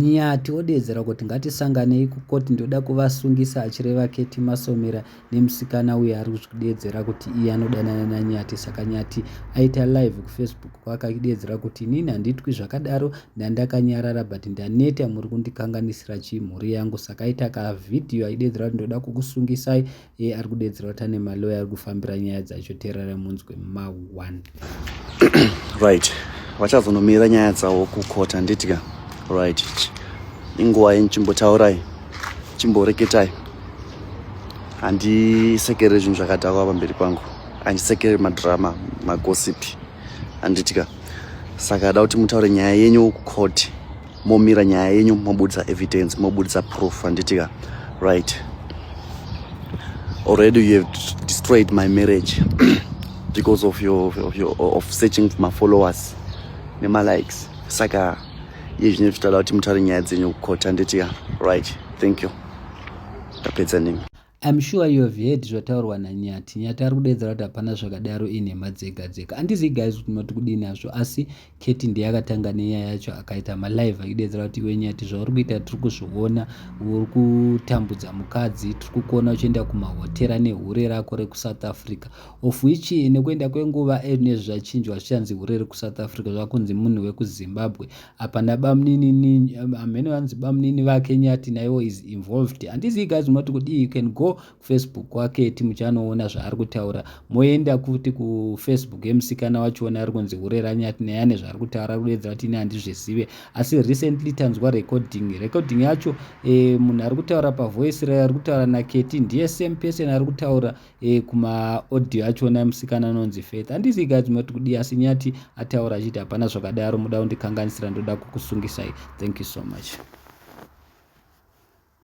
Nyati odeedzera kuti ngatisanganei kucourt ndoda kuvasungisa achireva Ketty Masomera nemusikana uya ari kuzvideedzera kuti iye anodanana naNyati saka Nyati aita live kufacebook kwake achideedzera kuti inini handitwi zvakadaro ndandakanyarara but ndaneta muri kundikanganisira chii mhuri yangu saka aita kavhidhiyo achideedzera kuti ndoda kukusungisai iye ari kudedzerwa kuti ane maloya ari kufambira nyaya dzacho teerarai munzwe ma 1 right vachazonomira nyaya dzavo kukota handitya right inguva yenyu chimbotaurai chimboreketai handisekere zvinhu zvakadhakwa pamberi pangu handisekere madrama magosipi handitya saka ada kuti mutaure nyaya yenyu kucourt momira nyaya yenyu mobudisa evidence mobudisa proof anditika right already you have destroyed my marriage because of your, of, your, of searching for my followers nemalikes saka iye zvine zvichitoda kuti mutare nyaya dzenyu kukota anditika right thank you ndapedza nemi I'm sure you have heard zvataurwa naNyati. Nyati ari kudeedzera kuti hapana zvakadaro inhema dzega dzega. Andizivi guys kuti munoti kudii nazvo asi Keti ndiye akatanga nenyaya yacho akaita malive achideedzera kuti iwe Nyati zvauri kuita tiri kuzviona uri kutambudza mukadzi tiri kukuona uchienda kumahotera nehure rako rekuSouth Africa of which nekuenda kwenguva nezvachinjwa zvichanzi hure rekuSouth Africa zvakunzi munhu wekuZimbabwe apa nabamuninini amene um, vanzi bamunini vake nyati naiwo is involved handizii guys munoti kudii you can go kufacebook kwake ti muchanoona zvaari kutaura moenda kuti kufacebook yemusikana wachiona ari kunzi hure ranyati naye ane zvaari kutaura ari kuedza kuti ini handizvizive asi recently tanzwa recording recording yacho e, munhu ari kutaura pavoice raye ari kutaura naketi ndiye same person ari kutaura e kuma audio achona musikana anonzi faith handisi guys moti kudii asi nyati ataura achiti hapana zvakadaro muda kundikanganisira ndoda kukusungisai thank you so much